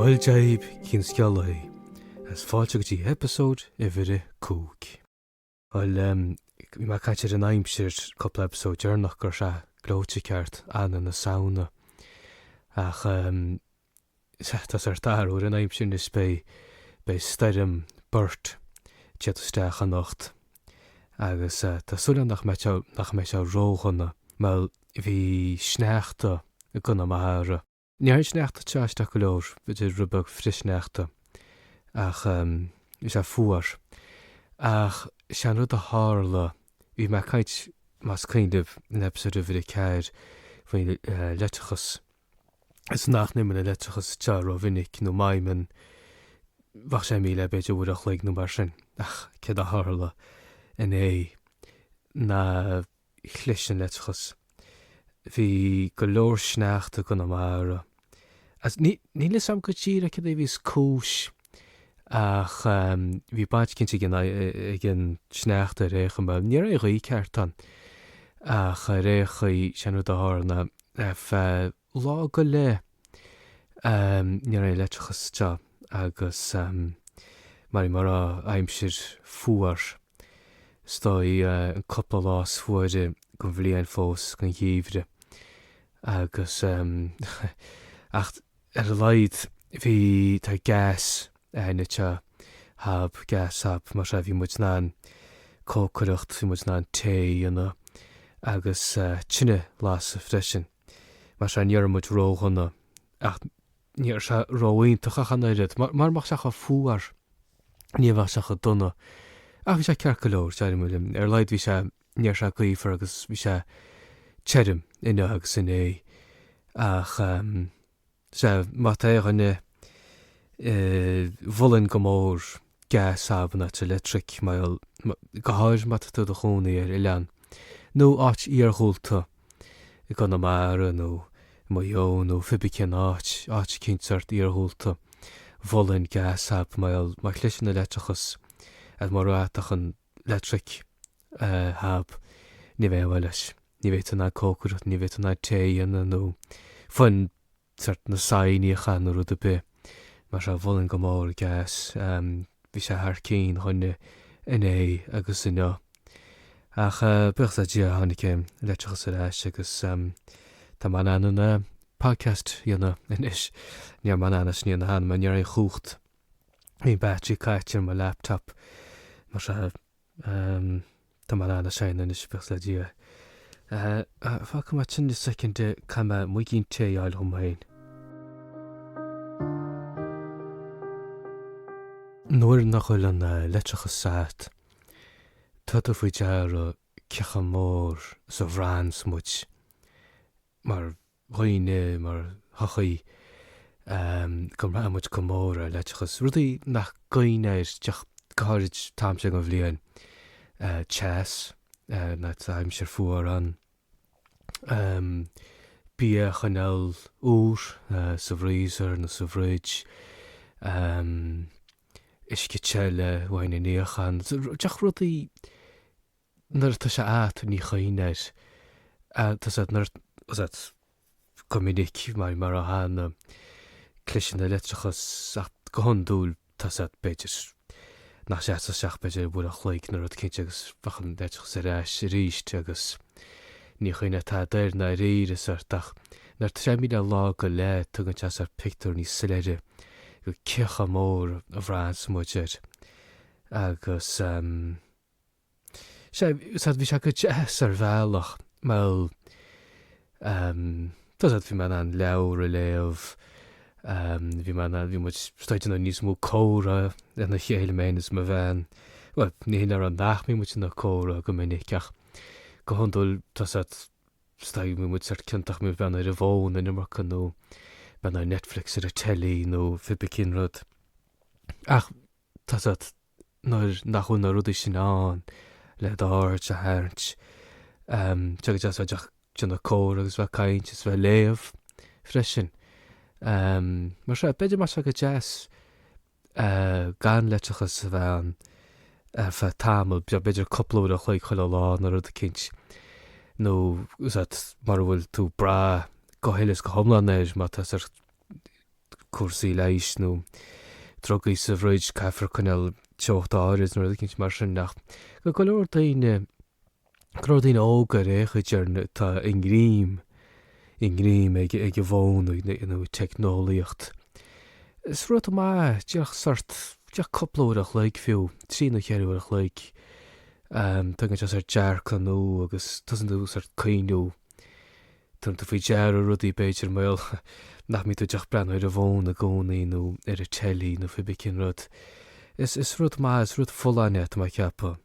Bhuel Dia daoibh cén scéal é is fáilte go dtí eipeasóid uimhir a cúig. Bhuel bhí mé ag caint ar an aimsir cúpla eipeasóid deireanach go raibh sé gleoite ceart ann don Samhain, ach Tá sórt athrú ar an aimsir anois, beidh stoirm Bert ag teacht isteach anocht agus tá súil agam nach mbeidh sé ró-dhona mar bhí sneachta i gConamara. Ní raibh an sneachta ag teacht isteach go leor, bhí sé rud beag flichshneachta ach bhí sé fuar. Ach sé an rud a tharla, bhí mé ag caint más cuimhneach libh in eipeasóid uimhir a ceathair faoin leictreachas, is nach n-imíonn an leictreachas sa teach ró-mhinic nó má imíonn, bheadh sé imithe le b'fhéidir uair an chloig nó mar sin. Ach céard a tharla inné ná chlis an leictreachas. Bhí go leor sneachta i gConamara. Níl fhios a'm go díreach céard a bhí is cúis. Ach bhí baint cinnte ag an ag an sneachta ar aon chaoi mar. Ní raibh aon ghaoth cheart ann ach ar aon chaoi sin an rud a tharla ar feadh lá go leith. Ní raibh an leictreachas againn agus mar mar bhí an aimsir fuar. Is dóigh an cúpla lá is fuaire gon bhliain fós gon gheimhreadh agus ach. ar a laghad bhí tá gas againn tá hab gas hab mar so bhí muid in ann cócaireacht bhí muid in ann tae a dhéanamh agus tine lasadh freisin mar so ní raibh muid ródhona ach ní raibh sé ró-iontach ach an oiread mar marach sé chomh fuar ní bheadh sé chomh dona ach bhí sé ceart go leor sea muid ar a laghad bhí sé Ní raibh sé gaofar agus bhí sé tirim inniu agus inné. Ach sea, má tá aon dhuine mholfainn go mór gas hab má tá electric a fháil, go háirithe má tá tú i do chónaí ar oileán nó áit iarghúlta i gConamara nó i Maigh Eo nó fiba cén áit, áit cineál sórt iarghúlta mholfainn gas hab a fháil, má chliseann an leictreachas, as mar má tá an. electric hab, ní bheidh aon mhaith leis, ní bheidh tú in ann cócaireacht, ní bheidh tú in ann tae a dhéanamh nó fón, sórt na saighní a chaitheamh nó rud ar bith mar so mholfainn go mór gas, bhí sé thar cinn againne inné agus inniu. Ach buíochas le Dia tháinig an leictreachas ar ais agus tá mé in ann an podcast a dhéanamh anois. Ní raibh mé in ann é sin a dhéanamh cheana mar ní raibh aon chumhacht. bhí an battery caite ar mo laptop mar seo ehm tá mé ar líne anois buíochas le Dia eh fágfaidh mé sin i soicind eh caithfidh mé muigín tae a fháil dhom féin. Nuair nach bhfuil an leictreachas agat tugann tú faoi deara cé chomh mór is a bhraitheanns muid mar dhaoine mar shochaí go mbraitheann muid go mór ar leictreachas, rudaí nach gcuimhníonn tú air ach go háirid an t-am seo den bhliain, teas nuair atá an aimsir fuar ann, bia a choinneáil úr sa bhfreezer nó sa bhfridge, uisce te le haghaidh níocháin, rudaí. Nuair atá sé a'at ní chuimhníonn tú air. Tá a fhios a'at ní go minic anois mar a tharlaíonn go gcliseann an leictreachas ach go hiondúil tá a fhios a'at b'fhéidir nach sé a'at ach b'fhéidir uair an chloig nó rud eicínt agus bheadh an leictreachas ar ais arís agus ní chuimhníonn tú tada air arís sort ach nuair atá sé imithe lá go leith tugann sé sort pictiúr níos soiléire dhuit cé chomh mór a bhraitheanns muid air agus Sea, sort bhí sé go deas ar bhealach. Bhuel, ehm, tá a fhios a'at bhí mé in ann leabhair a léamh, ehm, bhí mé in ann, bhí muid just in ann níos mó comhrá lena chéile mé féin is mo bhean. Bhuel, ní hin le rá nach mbíonn muid ag déanamh comhrá go minic ach go hiondúil tá a fhios a'at just, bíonn muid sort ciontach, ag breathnú ar an bhfón an iomarca nó breathnú ar Netflix ar an teilí nó pé ar bith cén rud. Ach. Tá a fhios a'at, nuair nach bhfuil na rudaí sin ann le d'aird a tharraingt, tá sé go deas bheith ag déanamh comhrá agus bheith ag caint is bheith ag léamh freisin. Mar sin, b'fhéidir go mbeadh sé go deas gan leictreachas a bheith ann ar feadh tamaill beag, b'fhéidir cúpla uair an chloig chuile lá nó rud eicínt, nó mura bhfuil tú ag brath go huile is go hiomlán air, má tá cúrsaí leighis nó drugaí sa bhfridge, caithfear coinneáil teocht áirid nó rud eicínt mar sin ach do go leor daoine, go leor daoine óga ar aon chaoi ar ndóigh, tá i ngreim, i ngreim ag ag an bhfón nó you know ag teicneolaíocht. Is rud an-mhaith, díreach sort, díreach cúpla uair an chloig fiú, trí nó cheithre uair an chloig, tugann sé sort dearcadh nua agus tosaíonn tú sort cuimhneamh, Tugann tú faoi deara rudaí, b'fhéidir, mar gheall, nach mbíonn tú díreach ag breathnú ar an bhfón i gcónaí nó ar an teilí nó pé bí cén rud. Is, is rud maith, is rud folláin é, tá mé ag ceapadh.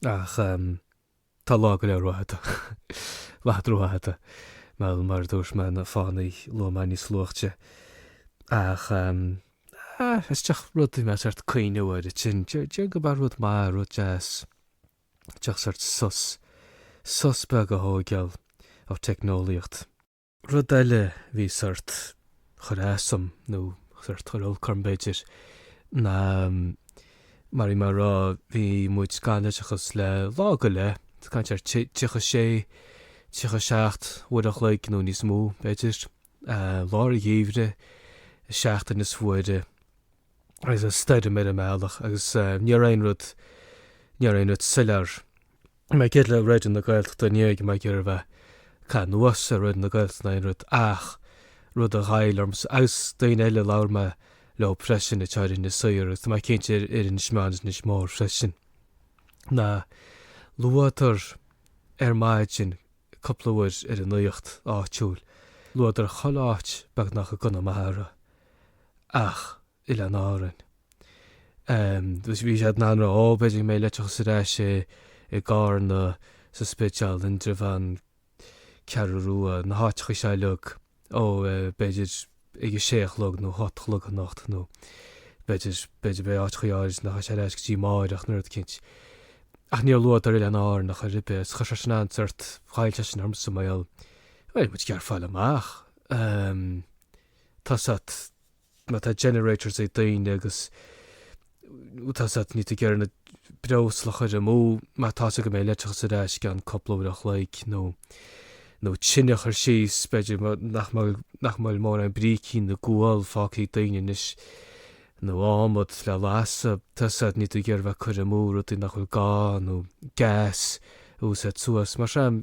Ach ehm, tá lá go leith rófhada. Lá go leith rófhada. Mar gheall, mar a dúirt mé, na fáthannaí a luaigh mé níos luaithe. Ach ehm, ah, is díreach rud a bhí mé sórt ag cuimhniú air, sin, deir, deir go mba rud maith, rud deas. díreach sórt sos, sos beag a thóigeáil ó teicneolaíocht. Rud eile, bhí sórt, chuir as dom, nó sórt chuir olc orm b'fhéidir, ná mar bhí mé a' rá, bhí muid gan leictreachas le lá go leith, ag caint ar tríocha sé, tríocha seacht uair a chloig nó níos mó b'fhéidir, lár an gheimhridh, seachtain is fuaire. agus an stoirm ar an mbealach agus ní raibh aon rud, ní raibh aon rud soiléir. Mar gheall ar Raidió na Gaeltachta níl mé ag iarraidh a bheith ag caitheamh anuas ar Raidió na Gaeltachta ná aon rud ach rud a ghoill ormsa agus daoine eile a labhair mé leo freisin atá ar Inis Oírr agus tá mé cinnte ar ar Inis Meáin is Inis Mór freisin nár luadar ar maidin cúpla uair ar an nuacht áitiúil luadar chuile áit beagnach i gConamara. ach Oileáin Árann. Bhí sé in ann rá, b'fhéidir go mbeidh leictreachas ar ais i gCarna, sa Spidéal, Indreabhán, Ceathrú Rua, na háiteacha seo uilig, ó b'fhéidir ag a sé a chlog nó hocht a chlog anocht nó b'fhéidir, b'fhéidir beidh áiteachaí áirid nach mbeidh sé ar ais go dtí amáireach, níl muid cinnte. Ach níor luadar Oileáin Árann a chor ar bith, is chuir sé sin an sórt, ghoill sé sin ormsa mar gheall bhí muid ag iarraidh fáil amach. Tá a fhios agat má tá generators ag daoine agus tá a fhios agat níl tú ag iarraidh na breosla a chuir amú má tá sé go mbeidh leictreachas ar ais i gceann cúpla uaire a chloig nó nó tine a chur síos b'fhéidir nach mbeidh nach mbeidh mórán brícíní ná gual fágtha ag daoine anois nó ádhmad le lasadh tá a fhios agat níl tú ag iarraidh bheith cur amú rudaí nach bhfuil gá nó gas a úsáid suas mar seo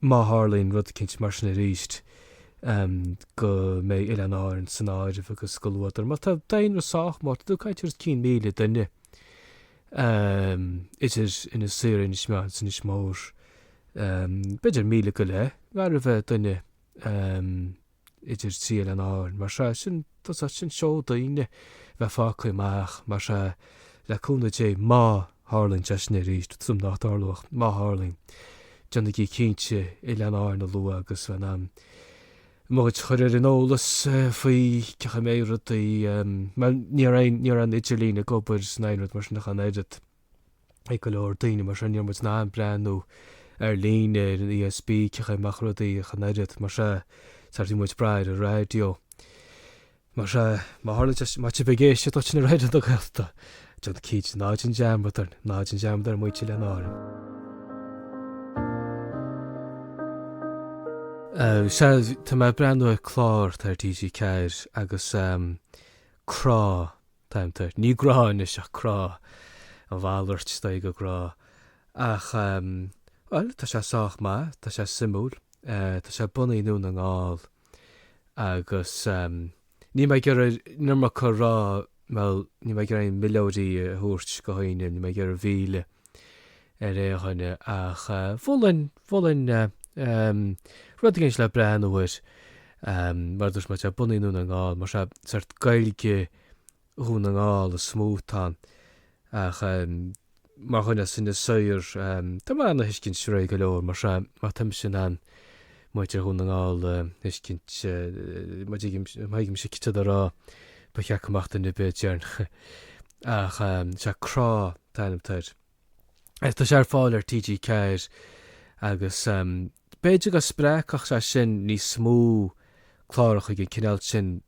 má tharlaíonn rud eicínt mar sin arís, go mbeidh Oileáin Árann san áireamh agus go luatar. Mar tá daonra sách mór, tá tú ag caint ar os cionn míle duine, idir Inis Oírr, Inis Meáin is Inis Mór, b'fhéidir míle go leith, gar a bheith duine. idir trí oileán Árann mar seo, sin just, sin seó daoine bheith fágtha amach mar seo, le cúnamh Dé, má tharlaíonn sé sin arís, tá súil agam nach dtarlóidh ach má tharlaíonn, déanaigí cinnte Oileáin Árann a lua agus bheith in ann muid a chur ar an eolas faoi cén chaoi a mbeidh rudaí, mar ní raibh aon, ní raibh aon idirlíon ag obair ná aon rud mar sin ach an oiread. ag go leor daoine mar sin ní raibh muid in ann breathnú ar líne ar an ESB cén chaoi a mbeadh rudaí chan oiread mar sin sort bhí muid ag brath ar an raidió mar sin má tharla deis má tá sibh ag éisteacht duit in raidió na Gaeltachta John Keats ná dein dearmad ar ná dein dearmad ar mhuintir Oileáin Árann. Sea tá mé ag breathnú ar chlár ar TG4 agus Crá t-ainm atá air. Ní grá anois ach crá. A mhalairt is dóigh go grá. Ach ehm, bhuel, tá sé sách maith, tá sé suimiúil. Eh, tá sé bunaithe i nDún na nGall. Agus ehm, níl mé ag iarraidh an iomarca a rá, bhuel, níl mé ag iarraidh aon mhillteoirí a thabhairt go haon duine, níl mé ag iarraidh é a mhilleadh. ar aon dhuine ach mholfainn, mholfainn ehm rud éigin le breathnú air ehm mar a dúirt mé tá sé bunaithe i nDún na nGall mar sin sort Gaeilge Dhún na nGall is mó atá ann ach ehm mar dhuine as Inis Oírr ehm tá mé in ann é a thuiscint réidh go leor mar sin má tá mise in ann muintir Dhún na nGall a thuiscint, má thuigimse céard tá siad a rá, ba cheart go mbeadh duine ar bith in ann ach sea Crá an t-ainm atá air. Ach tá sé ar fáil ar TG4 agus b'fhéidir go spreagfadh sé sin níos mó clárachaí den chineál sin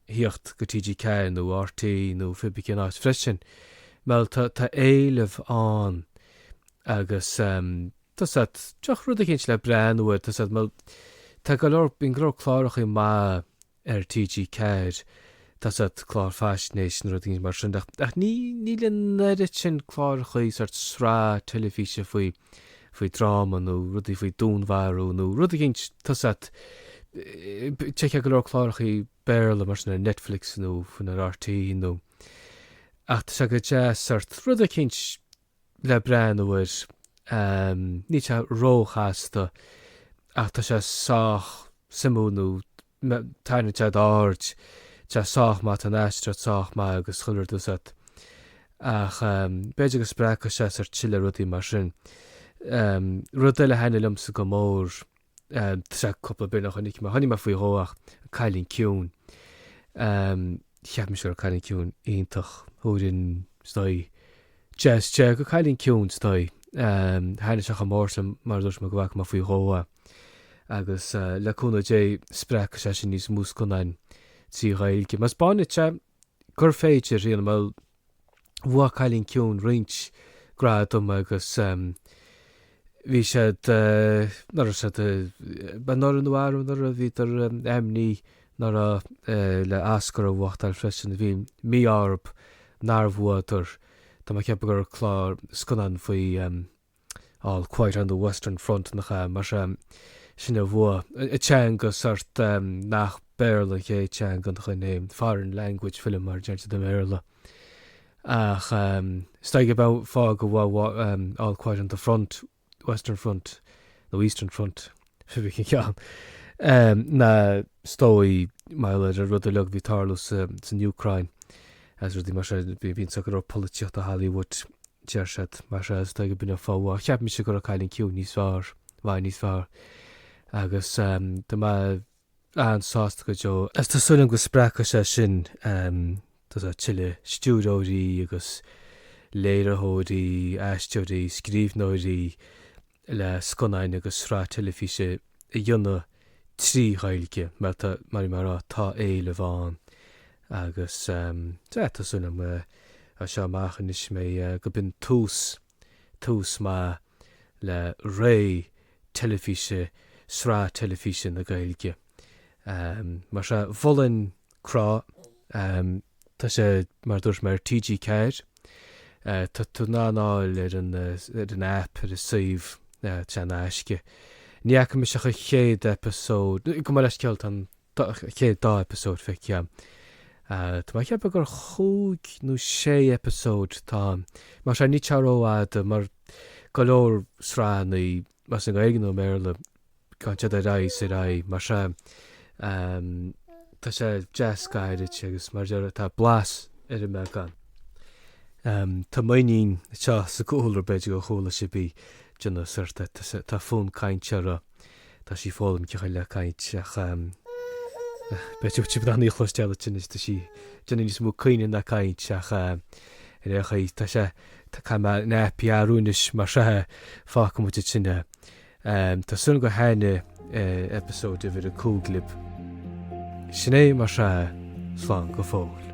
thíocht go TG Ceathair nó RTÉ nó pé ar bith cén áit freisin bhuel tá tá éileamh ann agus em tá a fhios agat díreach rud éicint le breathnú air tá a fhios agat mar tá go leor bíonn go leor clárachaí maith ar TG Ceathair tá a fhios agat clár faisnéis nó rud éicint mar sin ach ní níl an oiread sin clárachaí sort sraith teilifíse faoi faoi dráma nó rudaí faoi dúnmharú nó rud éigint tá a fhios agat d'fheicfeá go leor clárachaí Béarla mar sin ar Netflix nó fiú amháin ar RTÉ nó ach tá sé go deas sort rud éicint le breathnú air níl sé róchasta ach tá sé sách suimiúil nó M, Tarraingíonn sé d'aird. Tá sé sách maith, tá an aisteoireacht sách maith agus chuile rud tá a fhios agat. Ach ehm, b'fhéidir go spreagfadh sé sort tuilleadh rudaí mar sin. Ehm, rud eile a thaitnigh liomsa go mór, ehm, tá sé cúpla bliain ó chonaic mé, chonaic mé faoi dhó é ach, an Cailín Ciúin. Ehm, cheap mise go raibh Cailín Ciúin iontach. Thabharfainn, is dóigh, deich as deich, go Cailín Ciúin, is dóigh. Ehm, thaitnigh sé chomh mór sin mar a dúirt mé go bhfaca mé faoi dhó é. agus le cúnamh Dé spreagfaidh sé sin níos mó scannáin trí Ghaeilge. Mar spáin siad gur féidir, é a dhéanamh mar bhua Cailín Ciúin, roinnt gradam agus bhí siad, ná raibh siad, b'é ná raibh nó ná raibh, ná raibh, bhíodar ainmnithe ná raibh le Oscar a bhuachtáil freisin. Bhí mí-ádh orthu nár bhuadar, tá mé ag ceapadh gur clár scannán faoi. All Quiet on the Western Front, nach ea? Mar seo, sin a bhua. I dteanga, sórt, nach Béarla an chéad teanga an choin é. Foreign language film, mar a deirtear i mBéarla. Ach is dóigh gurb é an fáth gur bhua All Quiet on the Front, Western Front, nó Eastern Front. cibé cén ceann, ná is dóigh mar gheall ar an rud uilig a bhí ag tarlú san Úcráin agus rudaí mar sin. Bíonn saghas polaitíocht i Hollywood deir siad mar seo agus is dóigh gurb in é an fáth. Cheap mise go raibh Cailín Ciúin níos fearr, i bhfad níos fearr agus tá mé an-sásta go deo is tá súil agam go spreagfaidh sé sin tuilleadh stiúrthóirí agus léiritheoirí, aisteoirí, scríbhneoirí le scannáin agus sraith teilifíse a dhéanamh trí Ghaeilge mar tá, mar a bhí mé ag rá, tá éileamh ann agus tá súil agam as seo amach anois mbeidh, go b'in tús tús maith le ré teilifíse Sraith Teilifíse na Gaeilge. Mar seo, mholfainn Crá. Tá sé, mar a dúirt mé, ar TG4. Tá tú in ann é a fháil ar an aip, ar an suíomh, tá sé in aisce. Ní fhaca mise ach an chéad eipeasóid. Gabh mo leithscéal, tá an. chéad dá eipeasóid feicthe agam. Tá mé ag ceapadh gur cúig nó sé eipeasóid atá ann. Mar sin níl sé rófhada mar go leor sraitheannaí, más i nGaeilge nó i mBéarla, gabhann siad ar aghaidh is ar aghaidh mar seo. Tá sé deas gairid agus mar a deir tá blas ar an mbeagán. Tá m'iníon anseo sa gcúl b'fhéidir go chuala sibh í ag déanamh sórt, tá fonn cainte uirthi. Tá sí ag foghlaim cén chaoi le caint ach b'fhéidir go bhfuil sibh in ann í a chloisteáil anois. Tá sí ag déanamh níos mó caoineadh ná caint ach ar aon chaoi tá sé tá caithfidh mé an nappy a athrú anois mar seo a fágfaidh muid ansin é. Tá súil agam gur thaitin episode uimhir a cúig lib. Sin é mar seo slán go fóill.